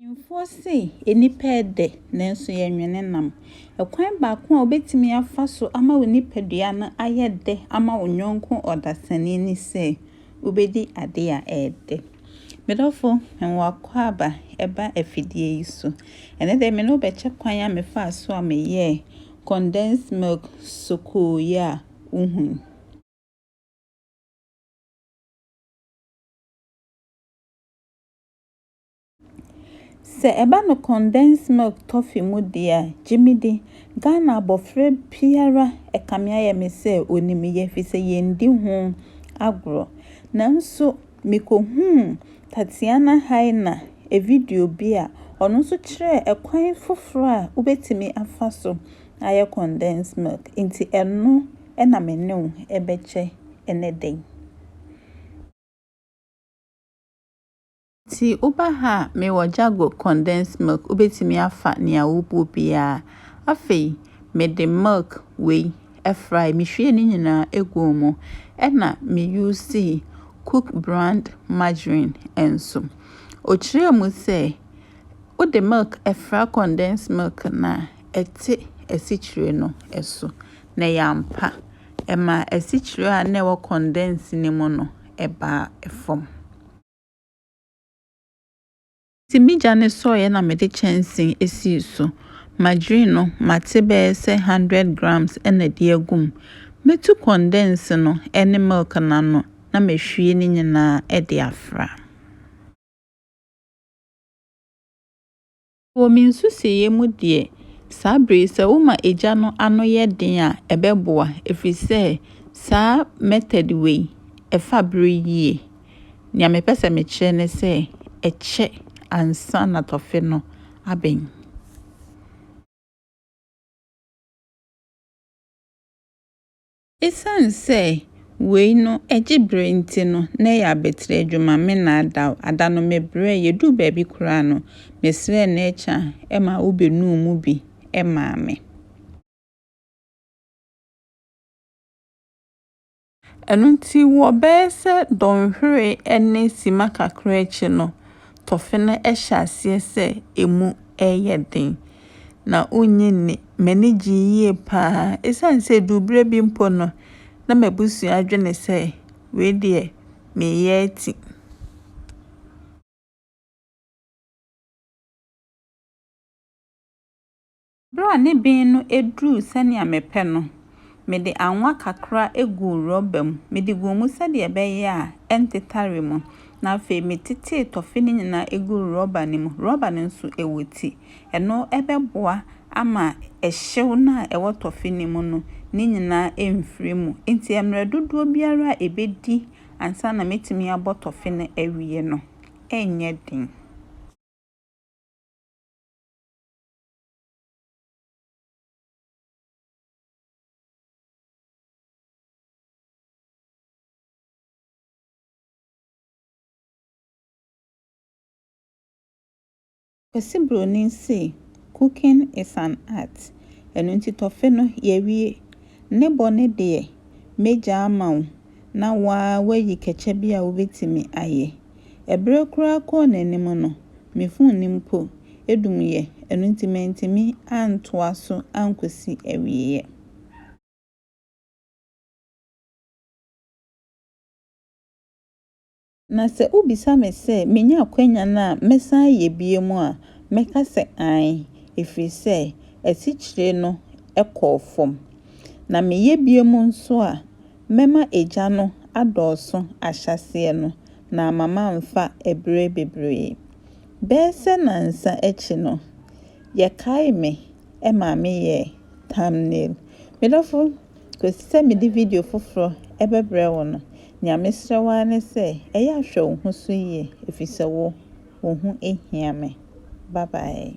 Mpanimfoɔ se nnipa yɛ dɛ nanso yɛnwene nam. Ɛkwan baako a wobɛtumi afa so ama wo nipadua no ayɛ dɛ ama wo yɔnko ɔdasani ne sɛ wobɛdi adeɛ a ɛyɛ dɛ. Me dɔfo, me w'akwaaba ɛba afidie yi so. Ɛnɛ deɛ me ne wo bɛkyɛ kwan a mefaa so a meyɛɛ condensed milk sokoo yi a wohu yi. Sɛ ɛba no condensed milk toffee mu deɛ a, gye me di, Ghana abɔfra biara ɛkame ayɛ me sɛ ɔnim yɛ firi sɛ yɛndi ho agorɔ. Nanso mekɔhuu Tatiana Haina video bi a ɔno nso kyerɛɛ ɛkwan foforɔ a wobɛtumi afa so ayɛ condensed milk nti ɛno na me ne wo bɛkyɛ ɛnɛ da yi. Nti woba ha a, mewɔ Jago condensed milk, wobɛtumi afa nea wobɔ biara. Afei mede milk wei fry, mehwie ne nyinaa guu mu, ɛna me usii Cook brand margarine nso. Ɔkyerɛɛ mu sɛ, wode milk fra condensed milk no a, ɛte asikyire no so, na ɛyɛ ampa, ɛmaa asikyire a na ɛwɔ condensed no mu no baa fam. Enti migya no sɔeɛ na mede kyɛnsee sii so. Madwiri no, mate bɛyɛ sɛ hundred grams na ɛde agu mu. Mɛtu kɔndɛnse no ne milk no ano na mahwie ne nyinaa de afra. Wɔ me nsusuiɛ mu deɛ, saa berɛ yi sɛ woma egya no ano yɛ den a, ɛbɛboa ɛfiri sɛ saa method wei, ɛfa berɛ yie. Deɛ mepɛ sɛ mekyerɛ ne sɛ, ɛkyɛ ansa na tɔfe no abɛn. Esiane sɛ wei no gye bere nti no, na ɛyɛ abatiri adwuma, me nnaadaw. Ada no mebrɛe. Yeduu baabi koraa no, mesrɛɛ Necha ma obenuu mu bi maa me. Ɛno nti, wɔ bɛyɛ sɛ dɔnhwere ne simma kakra akyi no, Tɔfe no hyɛ aseɛ sɛ ɛmu reyɛ den, na wonnye nni. M'ani gyee yie pa ara, ɛsiane sɛ ɛduu berɛ bi mpo no, na m'abusua dwene sɛ wei deɛ mereyɛ ati. Bere a ne ben no duruu sɛnea mepɛ no, mede anwa kakra guu rɔba mu. Mede guu mu sɛnea ɛbɛyɛ a ɛntetare mu, na afei metetee tɔfe no nyinaa guu rɔba no mu. Rɔba no nso, ɛwɔ ti. Ɛno bɛboa ama ɛhyew no a ɛwɔ tɔfe no mu no ne nyinaa amfiri mu. Enti mmerɛ dodoɔ biara a ɛbɛdi ansa na matumi abɔ tɔfe no awie no, ɛrenyɛ den. Kwasi Bronin se cooking is an art ɛno nti tɔfe no yɛawie. Ne bɔ ne deɛ mɛgyaa ma wo na waa wayi kɛkyɛ bi a wobetumi ayɛ. Ɛbere koraa kɔɔ n'anim no, me fon no mpo edumyɛ, ɛno nti mantumi antoa so ankosi awieɛ. Na sɛ wobisa me sɛ menya akwanya no a mɛsan ayɛ biom a, mɛka sɛ aane, ɛfiri sɛ asikyire no kɔɔ fam. Na meyɛ biom nso a, mɛma egya no adɔɔso ahyɛaseɛ no, na ama mamfa ɛberɛ bebree. Bɛyɛ sɛ nansa akyi no, yɛkaee me ma meyɛɛ thumbnail. Me dɔfo Kosi sɛ mede video foforo bɛbrɛ wo no, nea mesrɛ wo ara ne sɛ ɛyɛ a hwɛ wo ho so yie efisɛ wo, wo ho hia me. Bye bye.